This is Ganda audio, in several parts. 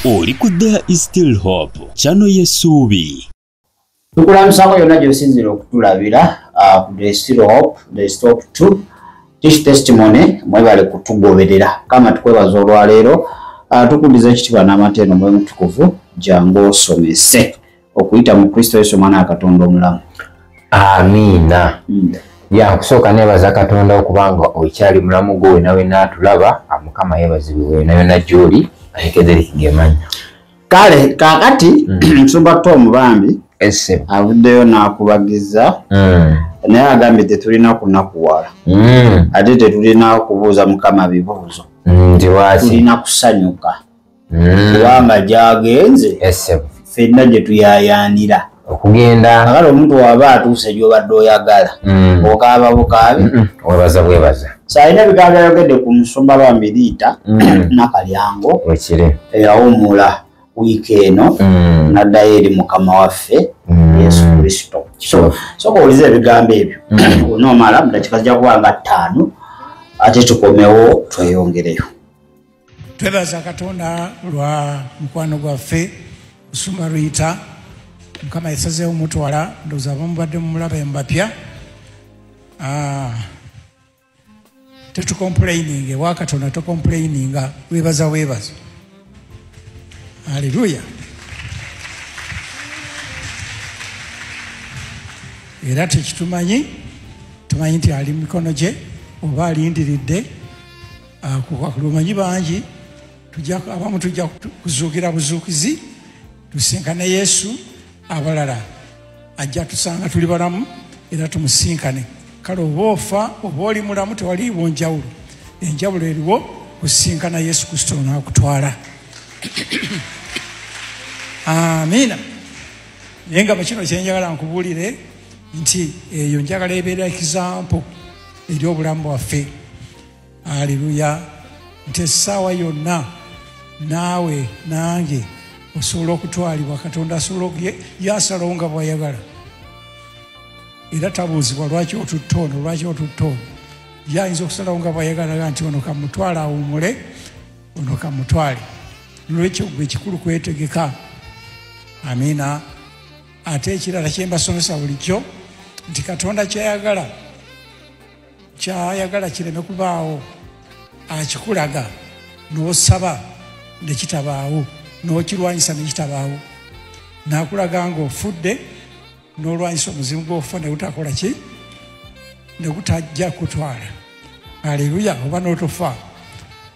oli ku there is still hope kyano yesuubi tukulamusako yonna gyosinzira okutulabira uh, ku there is still hope there is hope to tish testimony mwebale kutugoberera kama tukwebaza olwaleero uh, tukudiza ekitibwa n'amateeno mwemutukuvu jangu osomese okuyita mu kristo yesu omwana wa katonda omulamu amiina hmm. ya kusooka nebaza katonda okubanga okyali mulamu gwe wenawe natulaba amukama yebazibwe wenayona gyoli ayekezerikigemanya kale kakati hmm. nsumba to omubambi avuddeyo nakubagiza hmm. naye agambye tetulina kunakuwala ate tetulina kubuuza mukama bibuuzo tulina kusanyuka hmm. kubanga gyagenze eh, fenna gye tuyayaanira okugenda agala omuntu waba atuuse gyobadde oyagala hmm. okaaba bukaabi webaza bwebaza salina ebigambo byayogedde ku musumba lwa miriita hmm. nakalyango eyawumula wiiki eno hmm. naddayo eri mukama waffe yesu kristo soka oliza ebigambo ebyo onoomala mudakika zijja kuba nga ttaano ate tukomewo tweyongereyo twebaza katonda lwa mukwano gwaffe usuma ruyita mukama yasazeewo mutwala ndowooza abamubadde mumulaba embapya ah, tetukomplaininga ewa katonda tokomplaininga webaza webaza aleluya era tekitumanyi tumanyi nti ali mumikono gye oba alindiridde lumanyi bangi abamu tujja kuzuukira buzuukizi tusinkane yesu abalala ajja tusanga tuli balamu era tumusinkane kale oba ofa oba oli mulamu tewaliiwo njawulo enjawulo eriwo kusinkana yesu kristo nakutwala amiina naye nga mukino kyenjagala nkubuulire nti eyo njagala ebeera ekizampo eri obulamu bwaffe aleluya nti essaawa yonna naawe nange osobola okutwalibwa katonda asobola yasalawo nga bwayagala era tabuuzibwa lwaki otutta ono lwaki otutta ono yayinza okusalawo nga bwayagalaga nti ono kamutwale awumule ono kamutwale nolwekyo gwe ekikulu kwetegeka amiina ate ekirala kyembasomesa bulijjo nti katonda kyayagala kyayagala kireme kubaawo akikulaga n'osaba ne kitabaawo n'okirwanyisa ne kitabaawo nakulaga nga ofudde n'olwanyisa omuzimu gw'okufa ne gutakola ki ne gutajja kutwala aleluya oba n'otofa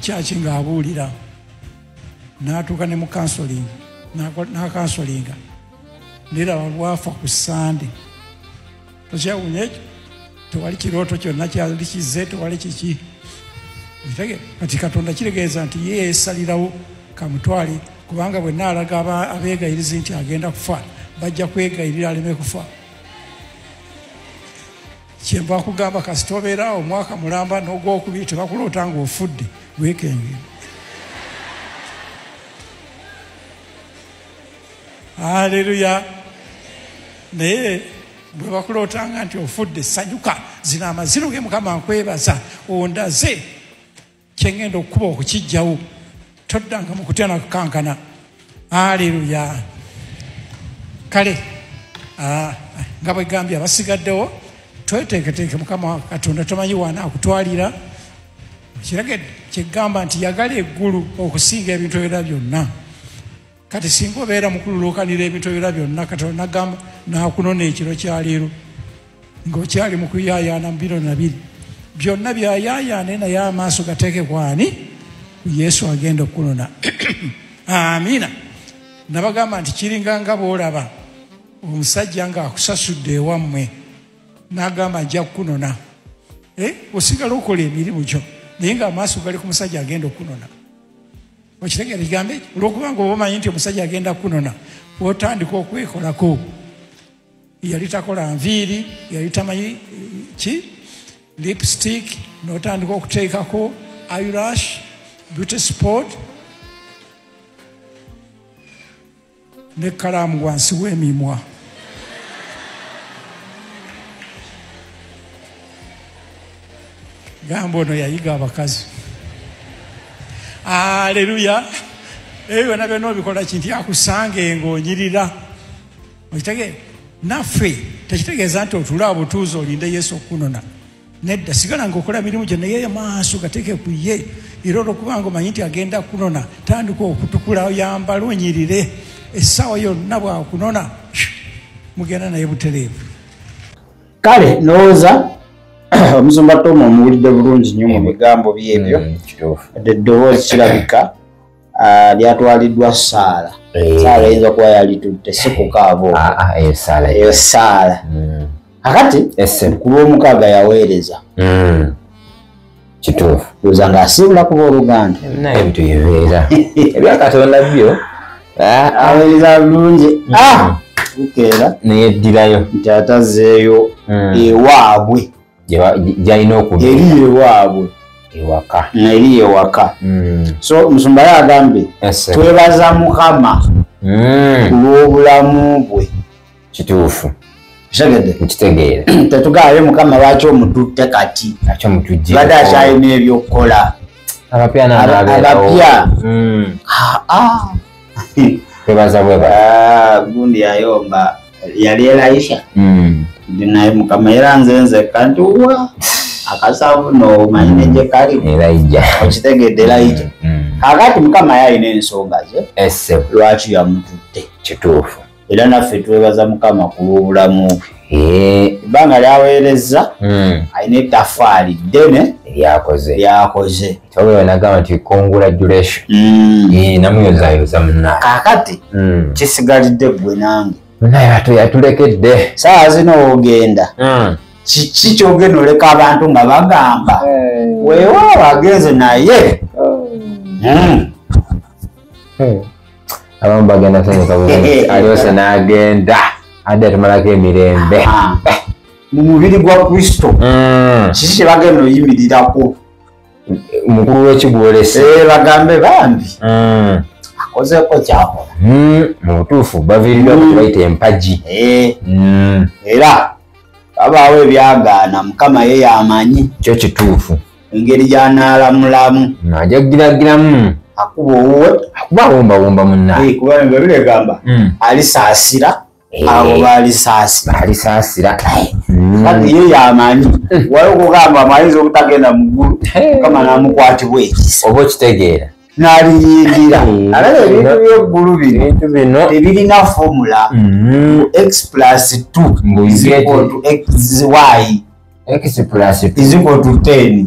kyaki ng'abuulira n'atuuka ne mu kansolingi n'akansolinga niraba lwafa ku sande tokyawunya ekyo tewali kirooto kyonna kyali kizze tewali kiki ntege kati katonda kitegeeza nti ye yesalirawo kamutwale kubanga bwe naalaga abeegayirizi nti agenda kufa bajja kwegayirira aleme kufa kyenva nkugamba kasita obeera omwaka mulamba n'ogwokubiri tebakuloota ng'ofudde weekenge aleluya naye bwe bakulootanga nti ofudde sanyuka zina amaziro ge mukama nkwebaza ondaze kyengenda okukuba okukijjawo toddanga mu kutya nakukankana aleluya kale ah, nga bwegambye abasigaddewo tweteeketeeke mukama katonda tomanyi waana akutwalira kirage kyegamba nti yagala eggulu okusinga ebintu ebira byonna kati singa obeera mukululuukanira ebintu ebira byonna katonda nagamba nakunona ekiro kyaleero ngaokyali mukuyayaana mubiro nabiri byonna byayayaane naye amaaso gateeke kwani ku yesu agenda okukunona amiina nabagamba nti kiringa nga boolaba omusajja ngaakusasudde ewammwe nagamba nja kukunona eh, osigala okola emirimu gyo naye ngaamaaso gali ku musajja agenda okukunona okitegera ekigambo ekyo olwokuba nga oba omanyi nti omusajja agenda kunona otandika okwekolako yali takola nviiri yali tamanyi eh, ki lipstick notandika okuteekako irash beauty sport ne kalaamu wansi w'emimwa gamba ono yayiga abakazi aleluya ebyo byona byona obikola kinti akusange ngaonyirira okitegeera naffe tekitegeeza nti otula obutuuzi olinde yesu okukunona nedda sigala nga okola mirimu gyo naye maaso gateke ku ye era olwokubanga omanyi nti agenda kunona tandika okutukula oyambala onyirire essaawa yonna bwakunona mugenda naye butereevu kale ndowooza omusumba toma omuwulidde bulungi nnyo mu bigambo byebyo mm, eddoboozi kirabika Ah, lyatwaliddwa saala eh. saala eyinza kuba yalitutte si kukaabo ah, ah, eyo eh, saala hmm. akati ku lwomukaaga yaweereza hmm. kituufu oza nga asiibula kuba oluganda naye ebintu bibeera ebyakatonda byo aweereza bulungi hmm. bukeera naye eddirayo nti atazeeyo ewaabwe gyalina okuba eri ewaabwe ewaka eri ewaka hmm. so musumba ye agambye twebaza mukama hmm. ku lw'obulamu bwe kituufu nkitegeere tetugaale mukama lwaki omututte kati bade akyalina ebyokukola abapya hmm. ah, ah. twebaza bweba ah, gundi yayomba yali elayisha mm. ndi naye mukama era nze nzekka nti wa akasavu nomanyi neje kali okitegedde elayija kakati mukama yalina ensonga ze lwaki yamututte kituufu era naffe twebaza mukama ku lw'obulamu ebbanga lyaweerezza alina ettafaali ddene lyakoze Oyo nagamba nti congratulation. Mm. Eh namuyoza yoza mna. Kakati mm. kisigalidde gwe nange. Naye atu yatulekedde. Saa zino ogenda. Mm. Kiki kyogenda oleka abantu nga bagamba. Eh. Wewe agenze naye. Oh. Mm. Eh. Abamu bagenda sanyuka eh. alyose n'agenda adde atumalako emirembe. Ah. Mu mubiri gwa Kristo. Mm. Kiki kyebagenda oyimirirako. mukulu wekigwolese eh, bagambe bambi mm. akozeko kyakola mm, mu butuufu baviiridwa mm. kubaita empagi eh. era babaawo ebyagaana mukama ye yamanyi kyo kituufu engeri gyanalamulamu najagiragiramu akuba owuwe akuba awombawomba munnaye eh, kuba biregamba alisaasira Eh, abo balisaasira balisaasira hmm. kati ye yamanyi hmm. wali okugamba amayinza obutagenda mu ggulu eh. kama namukwatibwa ekisa oba okitegeera naliyindira hmm. alaba ebintu byeggulu binobintu bino tebirina fomula x plus t y x plus t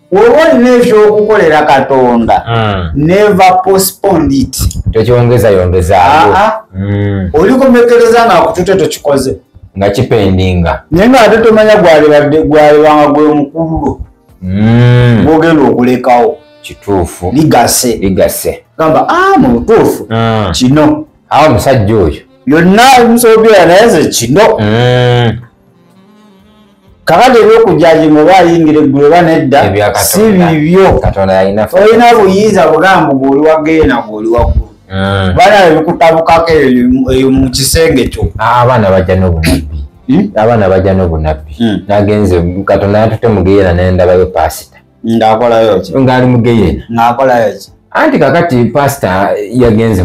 woba olina ekyokukolera katonda hmm. neve postpond it tokyongeza yongezaawo ah, ah. hmm. olikomekereza nga kutute tokikoze nga kipendinga naye nga ate tomanya gwalibadde gwalibanga gwe mukululo hmm. gwogenda okulekawo kituufu ligase ligase gamba a ah, mu butuufu kino awo omusajja oyo yonna omusobola naye ze kino kakati ebyokujajima oba ayingira eggulu oba nedda si bibyo olina buyinza bugambo gweoli wageena gweoli waggulu hmm. bana ebikutabukako eyo mu kisenge kyo ah, abaana bajja nobunabbi hmm? abaana bajja nobunabbi hmm. nagenze katonda yatute mugeera nendabayo pasita ng'akolayo ki ng'ali mu geyena ng'akolayo ki anti kakati pasita yagenze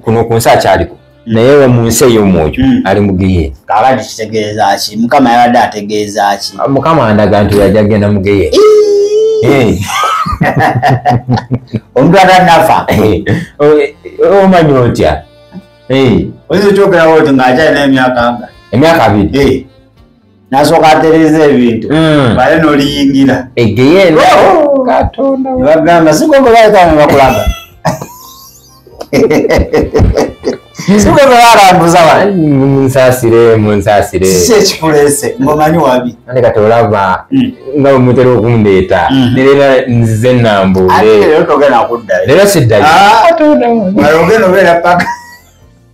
kuno ku nsi akyaliko hmm. naye we mu nsi ey'omwoyo hmm. ali mu geyena kakati kitegeeza ki mukama yabadde ategeeza ki ah, mukama andaga nti yajja genda mu geyena omuntu atanafa omanyi otya oyinza okyogerawo ti ng'akyalina emyaka nga emyaka abiri nasooka atereeza ebintu mm. bale noliyingira egeyeeno bagamba sigogobaekanga bakulaga sigogobalambuza munsasire munsasire si ekikulese ngomanyi wabi ande kati olaba mm. nga omutera okundeeta mm. nerera nzize nambuulelero togenda kuddayo lero siddayo ah, ogenda obeera paka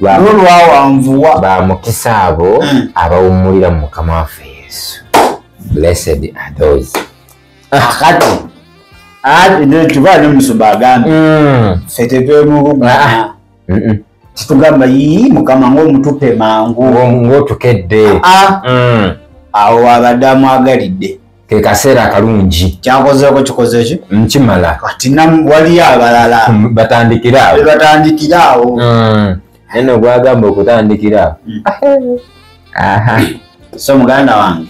nolwawanvuwa ba mukisa abo mm. abawummulira mu mukama waffe yesu blessed are those akati tuba ne musumba agambe mm. fe tetwemubuga ah, ah. titugamba yii mukama ngaomutupe mangu ngaotukedde ah. mm. awo abadde amwagalidde kekaseera akalungi kyakozeeko kikoze ki nkimala kati waliyo abalala hmm, batandikira awo batandikira awo hmm. naye no gwagamba okutandikira awo hmm. so muganda wange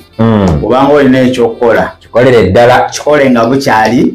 obanga olina ekyokukola kikolere ddala kikole nga bukyali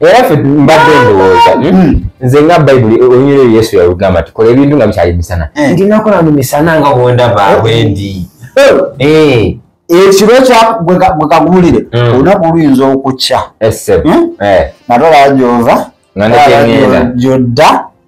era ffe mbadde ndowooza hmm? Hmm. nze nga bayibuli olunyira eyo yesu yalugamba nti kola ebintu nga bikyali misana eh. ndi nakola mu misana nga bwondaba eh. wendi eh. ekiro kyegwekagulire hmm. olunaku luyinza okukya natola gyova gyodda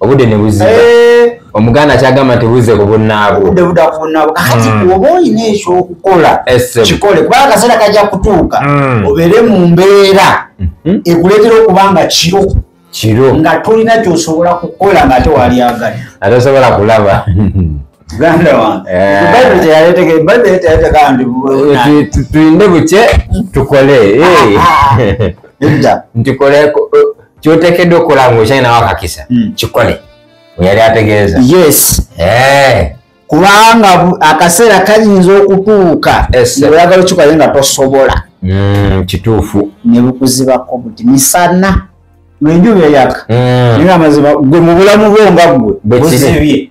obude ne buziba eh. omuganda kyagamba nti buze ku bunnaabwo obude buda ku bunnaabwo kakati mm. oba olina ekyokukola kikole kubanga akaseera kajja kutuuka mm. obeere mu mbeera mm-hmm. ekuleetera okuba nga kiro kiro nga tolina kyosobola kukola nga ate walyagala atasobola kulaba muganda wange eh. tulinde bukye tukole eh. nti kole kyotekedde okukola nga okyalinawo akakisa hmm. kikole yali ategeeza yes eh. kubanga akaseera kayinza okutuuka oyagala okikola nga tosobola hmm, kituufu nebukuzibako buti misana lwenjuba eyaka hmm. naye amazima gwe mubulamu bwo nga gwe buzibye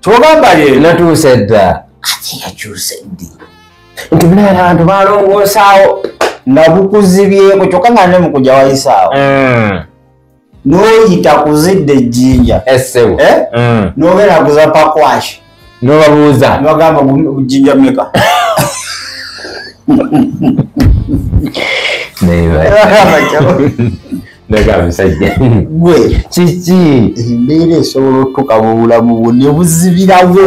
kyogamba ye natuuse dda ati yakyuse ddi nti munaera abantu balongoosaawo nga bukuzibyeko kyokka nga ne mukuja wayisaawo mm. noyita kuzidde ejjinja essebu eh? mm. nobeera kuza pakwashi nobabuuza nogamba jinja meka Maybe. ndagala musajja gwe kiki embeera esobola otutuka mu bulamu bwo ne buzibirawo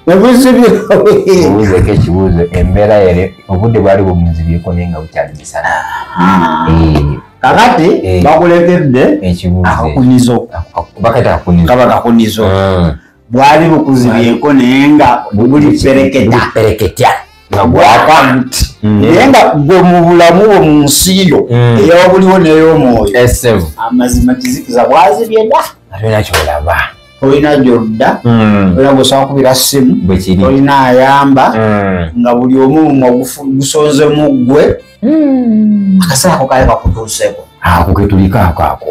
nebuzibirawobuzeko ekibuuzo embeera yali obudde bwali bumuzibyeko naye nga bukyali misana kakati bakulekedde ekibuuzobakati akunizo bwali bukuzibyeko naye nga buli pereketa pereketa nga gwaka nti mm. naye nga gwe mu bulamu bwo mu nsi yo mm. eyawabuliwo ney'omwoyo amazima kizikiza bwazibye da atolina kyolaba olina gyodda mm. era gwesobola kubira simu olina ayamba nga buli omu mumwe gusonzemu ggwe akaseera ako kali kakutuuseko ako ketulikaako ako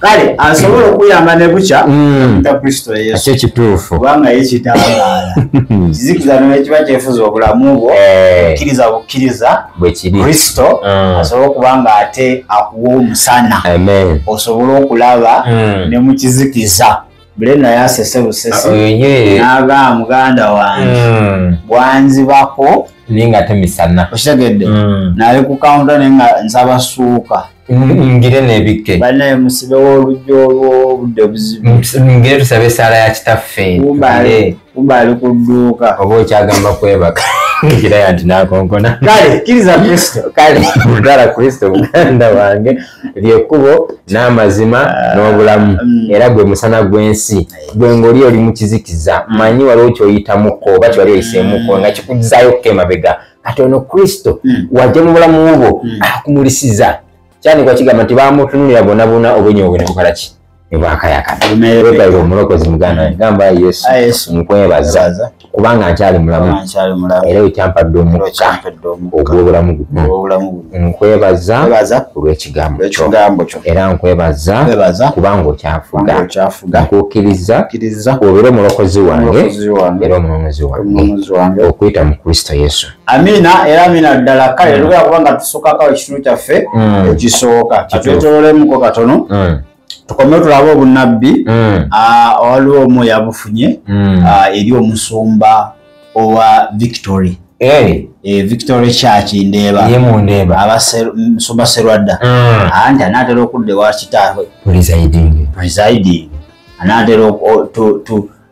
kale asobola okuyamba ne bukya mm. ta kristo yesu ekyo kituufu kubanga ye kitangaala kizikiza nekiba kyefuza obulamu bwo eh. bukkiriza bukkiriza bwekiri kristo mm. asobola okuba nga ate akuwa omusana osobola okulaba mm. ne mu kizikiza bulena yasese busese naga muganda wange hmm. bwanzibako ninga temisana okitegedde hmm. nali ku kaunta naye nga nsaba suuka hmm, ngire nebikke banaye musibe wolujja olwobudde obuzibu ngire tusabe esaala ya kitaffe kumba ali ku dduuka oba okyagamba kwebaka ekiraya nti nakonkona kale kiriza kristo kale mutwala kristo muganda wange lyekkubo n'amazima ah, n'obulamu mm. era gwe musana gw'ensi gwe ng'oli oli mu kizikiza mm. manyi waliwo kyoyitamuko oba kyewali oyiseemuko mm. nga kikuzayo okka emabega kati ono kristo wajja mu bulamu bwo akumulisiza kyandikwa kigamba nti bamutunulira bonabona obwenyi obwe nebukalaki nebwakayakanaebaire omulokozi muganda gamba yesu ah, nkwebaza kubanga nkyali mulamu era ekyampadde omukka ogwobulamu guno nkwebaza olwekigambo kyo era nkwebaza kubanga okyafuga nkukkiriza obeera omulokozi wange era omunonozi wange okuyita mu kristo yesu Amina era amina ddala kale mm. lugera kubanga tusukako ekitundu kyaffe mm. ekisooka katwetololemuko katono mm. tukome tulabe obunnabbi awaliwo mm. ah, omu yabufunye mm. ah, eri omusumba owa victory Eh, victory church ndeeba abasumba serwadda mm. anti anaatera okudda ewa kitaabwe presiding anaatera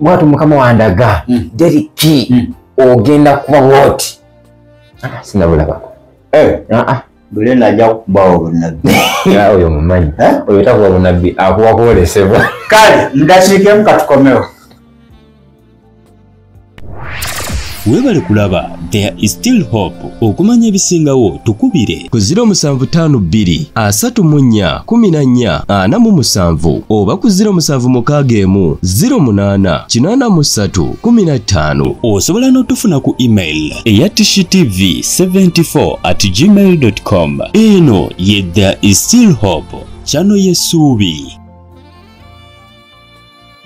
mwatu mukama wandaga mm. deriki mm. ogenda kuba woti ah, sinabulabako eh. ah, ah. bulena ajja kukubawo bunabbi oyo mumanyi eh? oyo takuba bunabbi akuba kwolesebwa kale ndakiikemu katukomewo webale kulaba there is still hope okumanya ebisingawo tukubire ku 0752 asatu mu nnya kumi na nnya ana mu musanvu oba ku 07 mukaaga emu 08 kinaana mu ssatu kumi na ttaano osobola n'otufuna ku email eya tv 74 at gmail com eno ye there is still hope kyano yesuubi